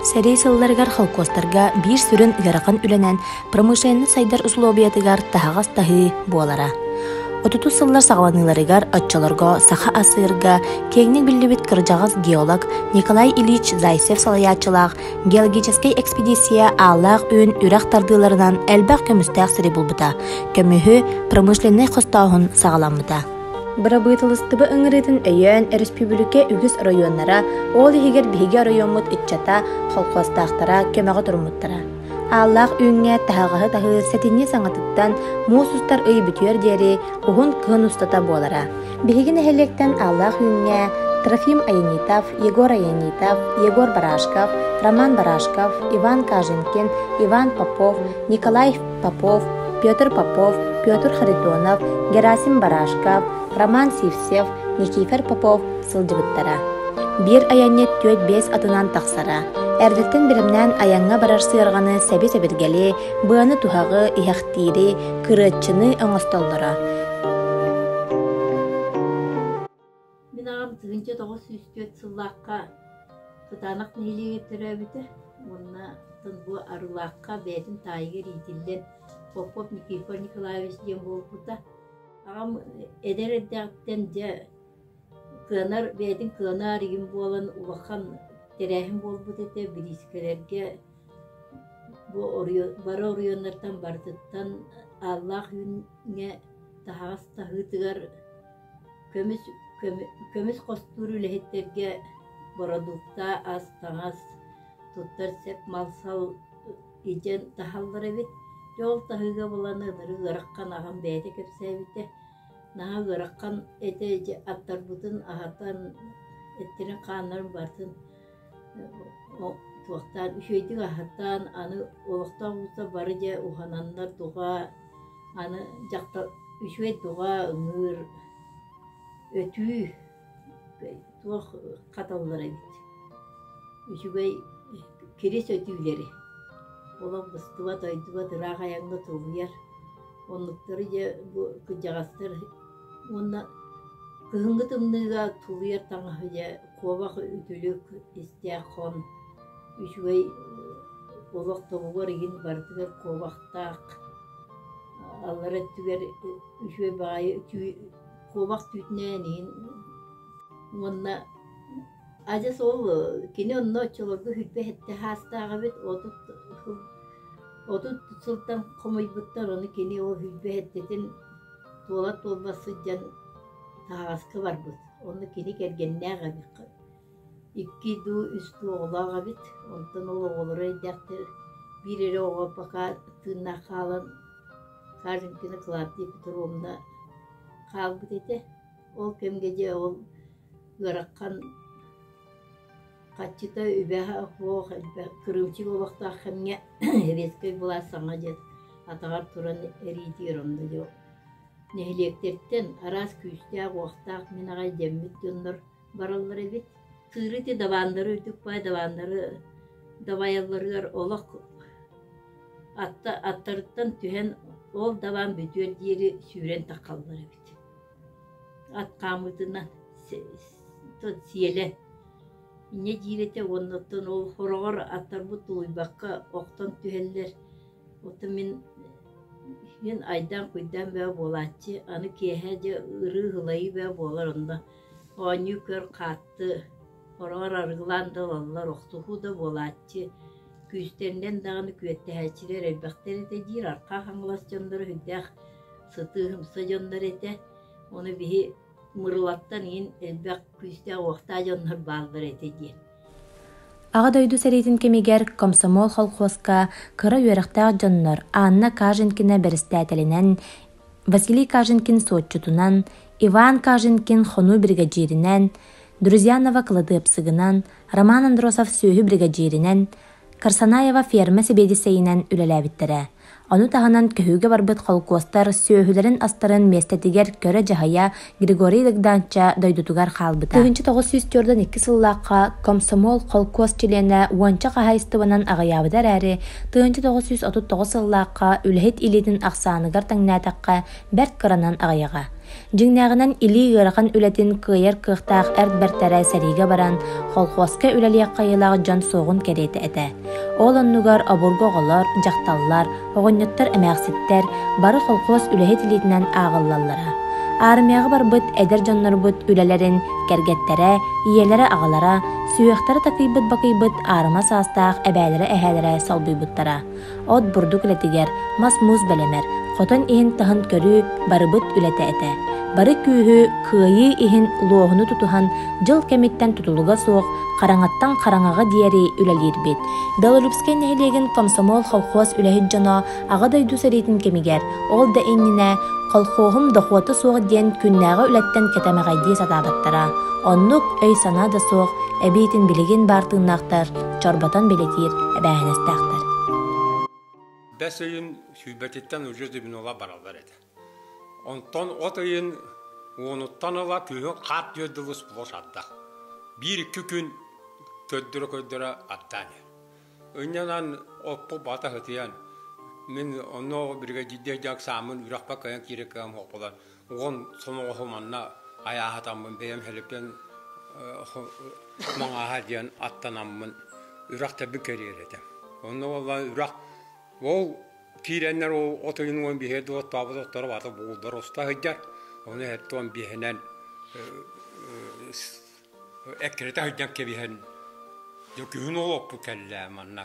Сэрии сылларыгар холкуостарга биир сүрүн ыарахан үлэнэн промышленнай сайдар усулуобуйатыгар таһаҕас таһыы буолара. 30 сыллар саҕаланыыларыгар оччолорго саха асыырга киэҥник биллибит кырдьаҕас геолог Николай Ильич Зайцев салайааччылаах Геологическай экспедиция ааллаах үүн үрэх тардыыларынан элбэх көмүстээх сири булбута, көмүһү, промышленнай хостооһун саҕаламмыта. Бырабыыталыстыба ыҥырыытын өйөөн өрөспүүбүлүкэ үгүс оройуоннара, ол иһигэр биһиги оройуоммут ыччата, холкуостаахтара көмөҕө туруммуттара. Ааллаах үүҥҥэ таһаҕаһы таһыыр сэтинньи саҥатыттан муус устар ый бүтүөр диэри уһун кыһын устата буолара. Биһиги нэһилиэктэн Аллаах Үүҥҥэ Трофим Аянитов, Егор Аянитов, Егор Барашков, Роман Барашков, Иван Каженкин, Иван Попов, Николай Попов, Петр Попов, Петр Харитонов, Герасим Барашков, Роман Сивцев, Никифор Попов сылдьыбыттара. Биир айанньыт түөрт биэс атынан тахсара. Эрдиттэн биримнээн айаҥҥа барар сыарҕаны сэби-сэбиргэли, быаны туһаҕы, иһэхтиири, кырыаччыны оҥостоллоро. Мин аҕам тыһыынча тоҕус сүүс түөрт сыллаахха кытаанах нэһилиэгэ төрөөбүтэ уонна оттон бу Арылаахха бэйэтин таайыгар иитиллэн Попов Никифор Николаевич диэн буолбута. Аҕам эдэр эрдэҕиттэн дьэ кыанар бэйэтин кыанар игин буолан улахан тэрээһин буолбут этэ бириискэлэргэ Бу бары оройуоннартан барытыттан ааллаах үүҥҥэ таһаҕас таһыытыгар көмүс хостуур үлэһиттэргэ бородуукта, ас-таҥас, туттар сэп мал-сал илдьэн таһаллар эбит. Дьэ ол таһыыга булан ынырык ыарахан аҕам бэйэтэ кэпсээбитэ. Наһаа ыарахан этэ аттарбытын аһатан, эттэрин-хааннарын барытын туохтаан үчүгэйдик аһатан аны олохтоох ууттар бары дьэ уһананнар дуҕа аны дьахтар үчүгэй дуҕа ыҥыыр өтүү туох хаталлар эбит үчүгэй кирис өтүүлэри олох быстыбат дойдубат ыраах айаҥҥа тулуйар оннуктары дьэ бу кырдьаҕастар уонна кыһыҥҥы тымныыга тулуйар таҥаһы дьэ куобах үтүлүк, истээх хон, үчүгэй олох тобугар иһин барытыгар куобахтаах аллара өттүгэр үчүгэй баҕайы куобах түүтүнээн иһин уонна адьас ол кини онно оччолорго сүүрбэ сэттэ саастаах эбит отут отут сылтан хомуйбуттар ону кини ол сүүрбэ сэттэтин туола туолба сылдьан таһаҕаска барбыт Онно кини кэргэннээх эбит. Икки дуу, үс дуу оҕолоох эбит. Онтон ол оҕолоро эйдэхтэр. Биир эрэ оҕо пока тыыннаах хаалан Карлинкина Клавдия Петровна хаалбыт этэ. Ол кэмгэ дьэ ол ыарахан хаччыта үбэһэ охлох элбэх кырыымчык олохтоох кэмҥэ Советскай былаас саҥа дьэ атаҕар туран эриитигэр онно дьо Нэһилиэктэртэн араас күүстээх-уохтаах мин аҕай дэммит дьоннор бараллар эбит. Кыыры ити дабаандары үтүк баай дабаандары дабайалларыгар олох атта аттарыттан түһэн ол дабаан бүтүөр диэри сүүрэн тахаллар эбит. Ат хаамыытынан сиэлэ инньэ диир этэ уонна оттон ол хороҕор аттарбыт тулуйбакка охтон түһэллэр Оттон мин мин айдаан-куйдаан бөҕө буолааччы, аны киэһэ дьэ ырыы-ылайыы бөҕө буолар онно оонньуу көр хаатты, хороҕор арыгылаан да ылаллар, охтуһуу да буолааччы, күүстэринэн даҕаны күөттэһээччилэр элбэхтэр этэ диир Архаа Хаҥалас дьонноро сүрдээх сытыы-ымса дьоннор этэ. Ону биһи Мырылаттан иһин элбэх күүстээх-уохтаах дьоннор бааллар этэ диэн Аҕа дойду сэриитин кэмигэр комсомол холхуоска кыра үөрэхтээх дьоннор Анна Каженкина бэрэстээтэлинэн, Василий Каженкин суотчутунан, Иван Каженкин-хонуу биригэдьииринэн, Друзьянова кыладыапсыгынан, Роман Андросов сүөһү биригэдьииринэн, Карсанаева ферма сэбиэдиссэйинэн үлэлээбиттэрэ. Ону таһынан көһүүгэ барбыт холкуостар сүөһүлэрин астарын миэстэтигэр көрө-дьаһайа Григорий Легданча дойдутугар хаалбыта. 1904-2 сыллаахха комсомол холкуос чилиэнэ уонча хаһаайыстыбанан аҕыйаабыта эрээри, 1939 сыллаахха үлэһит илиитин ахсааныгар таҥнээтэххэ бэрт кыранан аҕыйаҕа. Дьиҥнээҕинэн илии ыарахан үлэтин кыайар кыахтаах эр бэртэрэ сэриигэ баран, холхуоска үлэлиэх кыайыылаах дьон суоҕун кэриэтэ этэ. Ол оннугар обургу оҕолор, дьахталлар, оҕонньоттор эмээхситтэр бары холхуос үлэһит илиитинэн ааҕыллаллара. Аармыйаҕа барбыт эдэр дьоннорбут үлэлэрин кэргэттэрэ, ийэлэрэ-аҕалара, сүһүөхтэрэ такыйбыт-бакыйбыт аарыма саастаах эбээлэрэ-эһээлэрэ солбуйбуттара. от бурдук үлэтигэр, мас-муус бэлэмэр, хотон иһин-таһын көрүү барыбыт үлэтэ этэ. Бары күүһү, кыайыы иһин луоһуну тутуһан дьыл кэмиттэн тутулуга суох хараҥаттан хараҥаҕа диэри үлэлиирбит. Белолюбскай нэһилиэгин комсомол колхоз үлэһит дьоно Аҕа дойду сэриитин кэмигэр ол да иннинэ колхоһум дохуота суох диэн күннээҕи үлэттэн кэтэмэҕэйдии сатаабыттара. Оннук өй-санаа да суох, эбиитин билигин баар тыыннаахтар чорботон билэтиир эбээһинэстээхтэр бэс ыйын сүүрбэтиттэн уже зимнула баралар этэ онтон от ыйын уонуттан ыла күһүн хаар түөр дылы сплош ардах биир икки күн көрдөрө көрдөрө аттаан ынньанан оппу бата хытыйан мин онно биригэдьиирдэ дьак саамын үрахпа кыйан киирэ кыам хопулар уон сомоҕоһу манна айааһатаммын бэйэм хөлүппэн маҥааһа диэн аттанаммын үрэх тэбик кэриэр этэ онно буоллар үрэх ол киирэннэр ол отойун уон биһиэт оттообут отторо бата буулдар уста сыдьар ону эһэтте он биэһэнэн эккирэтэ сыдьан кэбиһэн күһүн олоппу кэллэ манна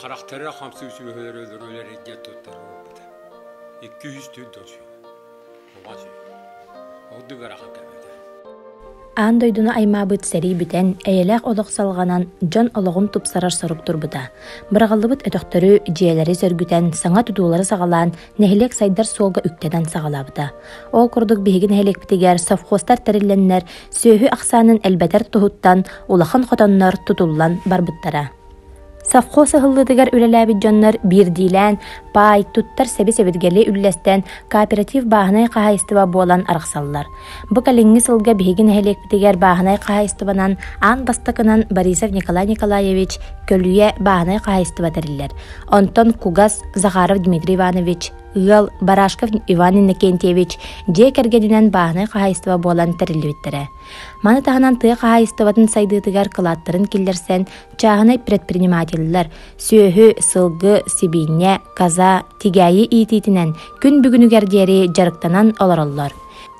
Харахтара хамсык сүөһүлэр өлөрөлөр диэн туттарга ылбыта. Икки үс түүн тосуй. Оҕа сү. Ордук арахан кэмэтэ. Аан дойдуну аймаабыт сэрии бүтэн, эйэлээх олох салҕанан, дьон олоҕун тупсарар сорук турбута. Быраҕыллыбыт өтөхтөрү, дьиэлэри сөргүтэн, саҥа тутуулары саҕалаан, нэһилиэк сайдар суолга үктэнэн саҕалаабыта. Ол курдук биһиги нэһилиэкпитигэр совхозтар тэриллэннэр, сүөһү ахсаанын элбэтэр туһуттан улахан хотоннор тутуллан барбыттара. Совхоз ыһыллыытыгар үлэлээбит дьоннор биирдиилээн паай, туттар сэби-сэбиргэли үллэстэн, кооператив бааһынай хаһаайыстыба буолан арахсаллар. Бу кэлиҥҥи сылга биһиги нэһилиэкпитигэр бааһынай хаһаайыстыбанан аан бастакынан Борисов Николай Николаевич Көлүйэ бааһынай хаһаайыстыба тэриллэр. Онтон Кугас Захаров Дмитрий Иванович, ыал Барашков Иван Иннокентьевич дьиэ кэргэнинэн бааһынай хаһаайыстыба буолан тэриллибиттэрэ. Маны таһынан тыа хаһаайыстыбатын сайдыытыгар кылааттарын киллэрсэн, чааһынай предпринимателлэр сүөһү, сылгы, сибиинньэ, каза, тигээйи иитиитинэн күн бүгүнүгэр диэри дьарыктанан олороллор.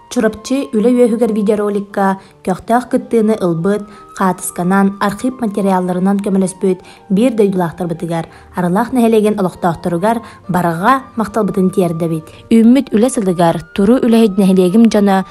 Чурапчы үлэ үөһүгэр видеороликка көхтөөх кыттыыны ылбыт, хаатысканан, архив материалларынан көмөлөспүт биир дойдулаахтарбытыгар, Арылаах нэһилиэгин олохтоохторугар барҕа махталбытын тиэрдэбит. Үүммүт үлэ сылыгар Туру үлэһит нэһилиэгим дьоно